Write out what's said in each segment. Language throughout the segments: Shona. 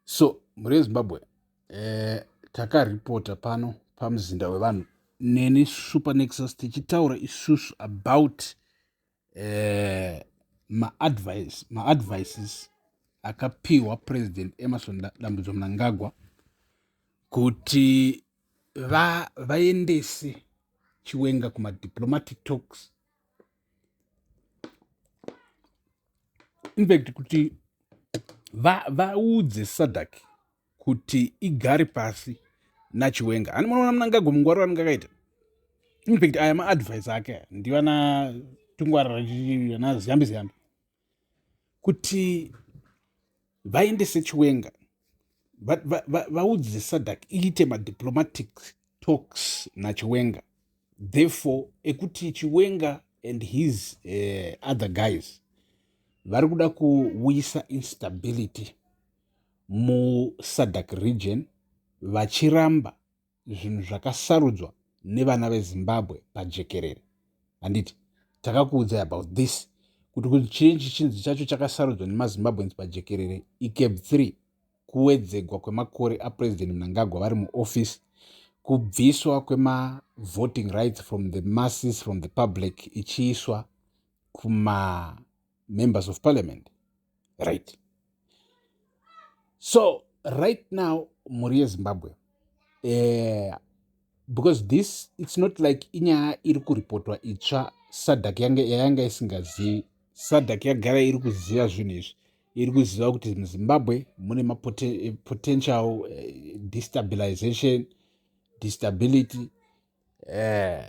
so mhuri yezimbabwe eh, takaripota pano pamuzinda wevanhu neni supernexus tichitaura isusu about eh, maadvice maadvices akapiwa president emerson dambudzo mnangagwa kuti vaendese va chiwenga kumadiplomatic talks infact kuti vaudze va sadak kuti igare pasi nachiwenga hani munoona munangago mungwaro anenge akaita infact aya maadvice ake ndivanatungwarira ziyambi ziyambi kuti vaendese chiwenga vaudze sadak iite madiplomatic talks nachiwenga therefore ekuti chiwenga and his uh, other guys vari kuda kuuyisa instability musadak region vachiramba zvinhu zvakasarudzwa nevana vezimbabwe pajekerere handiti takakuudzai about this kuti kuti chii chichinzi chacho chakasarudzwa nemazimbabweans pajekerere icab 3 kuwedzegwa kwemakore apresident mnangagwa vari muoffice kubviswa kwemavoting rights from the masses from the public ichiiswa kuma members of parliament right so right now mhuri yezimbabwe eh, because this its not like inyaya iri kuripotwa itsva sadak yayanga isingazivi sadak yagara iri kuziva zvinhu izvi iri kuziva kuti muzimbabwe mune mapotential eh, eh, destabilization destability eh,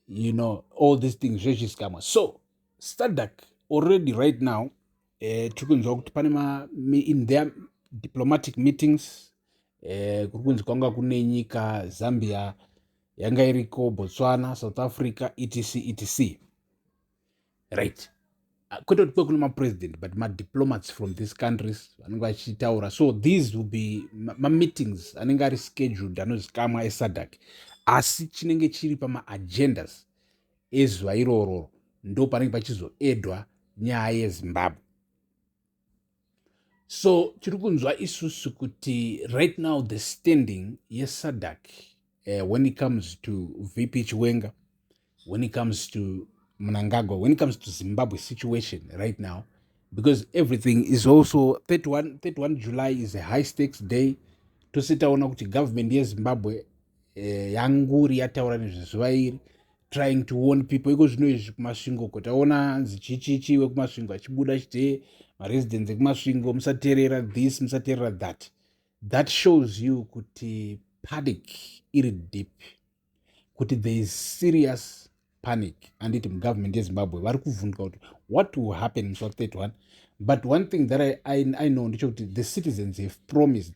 you know all these things zvechiskamwa so stadak already right now uh, eh, tiri kunzwa kuti pane ma in their diplomatic meetings uh, kuri kunzi kwanga kune nyika zambia yanga iriko botswana south africa etc etc right ah, kwete kuti kwekune mapresident but madiplomats from these countries vanenge vachitaura so these will be mameetings ma anenge ari scheduled anozikamwa esadak asi chinenge chiri pamaagendas ezuva irororo ndo panenge pachizoedwa nyaya yezimbabwe so tiri kunzwa isusu kuti right now the standing yesadak uh, eh, when it comes to vp chiwenga when it comes to mnangagwa when it comes to zimbabwe situation right now because everything is also 31, 31 july is a high stakes day tose taona kuti government yezimbabwe eh, yanguri yataura nezvezuva iri trying to warn people iko zvino izvi kumasvingo ko taona hanzi chichichi wekumasvingo achibuda chite maresidents ekumasvingo musaterera this musaterera that that shows you kuti panic iri deep kuti there is serious panic anditi mugovernment yezimbabwe vari kuvhunduka kuti what will happen musa 31 but one thing that i, I, I know ndechekuti the citizens have promised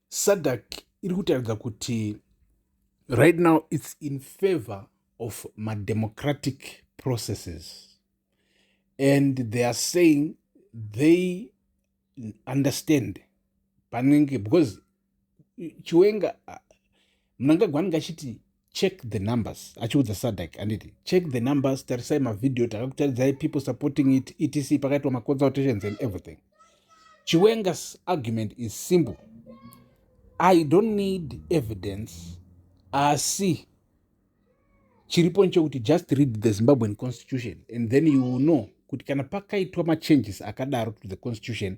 sadc iri kutaridza kuti right now its in favor of mademocratic processes and they are saying they understand panenge because chiwenga mnangagwa anenge achiti check the numbers achiudza sadak anditi check the numbers tarisai mavhidhiyo takakutaridzai people supporting it etc pakaitwa maconsultations and everything chiwengas argument is simple i don't need evidence asi chiripo nchekuti just read the zimbabwean constitution and then you will know kuti kana pakaitwa machanges akadaro to the constitution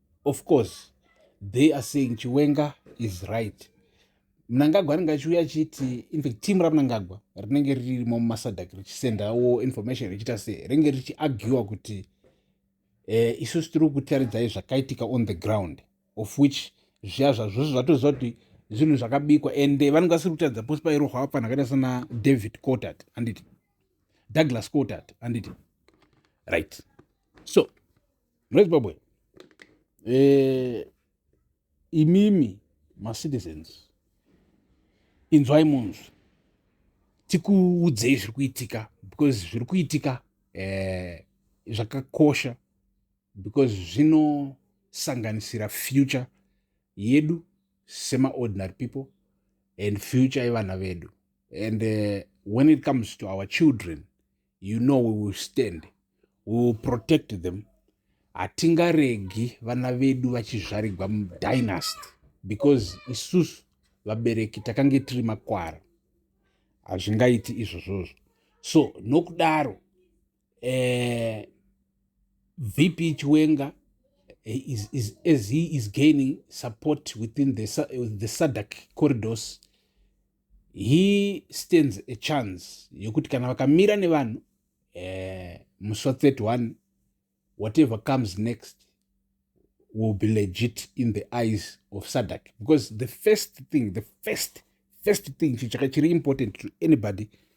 of course they are saying chiwenga is right mnangagwa anenge achiuya achiti infact team ramnangagwa rinenge ririmo mumasadak richisendawo information richiita se rinenge richiagiwa kuti eh, isusu tiri kutaridzai zvakaitika on the ground of which zviya zvazvozvo zvatoziva kuti zvinhu zvakabikwa and eh, vanenge vasiri kutaridza posi pairohwa vapfanhu akaita sana david cotat anditi douglas cotat anditi right so munezimbabwe eh, imimi macitizens inzwai munzwi tikuudzei zviri kuitika because zviri kuitika eh, zvakakosha because zvinosanganisira future yedu semaordinary people and future yevana vedu and uh, when it comes to our children you know we will stand we will protect them hatingaregi vana vedu vachizvarigwa mudynast because isusu vabereki takange tiri makwara hazvingaiti izvozvozvo so nokudaro eh, vp chiwenga eh, is, is, as he is gaining support within the, the sadak corridors he stands a chance yekuti kana vakamira nevanhu eh, musi wa 31 whatever comes next will be legit in the eyes of sadak because the first thing the first first thing chitsvaka chiri important to anybody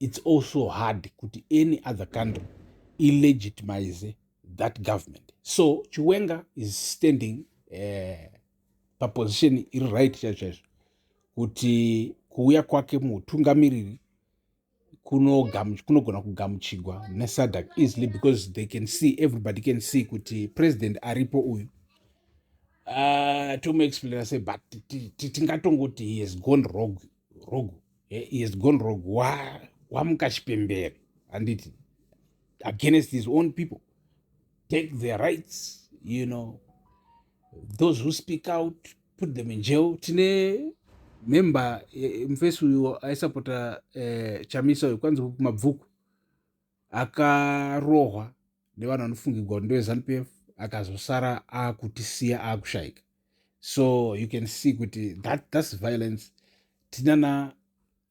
it's also hard kuti any other country ilegitimize that government so chiwenga is standing uh, paposition iri right chaizvo chaizvo kuti kuuya kwake muutungamiriri kunogona kugamuchigwa nesadak easily because they can see everybody can see kuti president aripo uyu uh, tomuexplaina se but tingatongoti he has gone rogue, rogue Eh, he has gone wrong wamuka chipembere handiti against his own people take their rights you know those who speak out put them in jail tine member eh, mufesi uyo aisapota eh, chamisa uyo kwanzi mabvuku akarohwa nevanhu vanofungigwa kuti ndevezanu pf akazosara akutisiya akushaika so you can see kuti that, thats violence tinana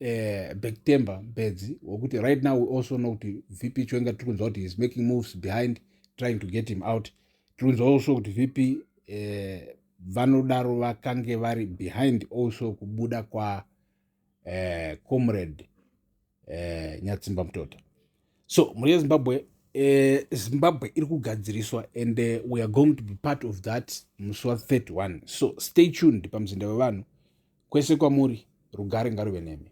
uh, eh, bektember bedzi wekuti right now we also know kuti vp chwenga tiri kunzwa kuti heis making moves behind trying to get him out tiri kunzwa also kuti vp uh, eh, vanodaro vakange vari behind also kubuda kwa eh, comrade eh, nyatsimba mutota so mhuri yezimbabwe eh, zimbabwe iri kugadziriswa and uh, we are going to be part of that musi wa 31 so stay tuned pamuzinda wevanhu kwese kwamuri rugare ngaruve nemi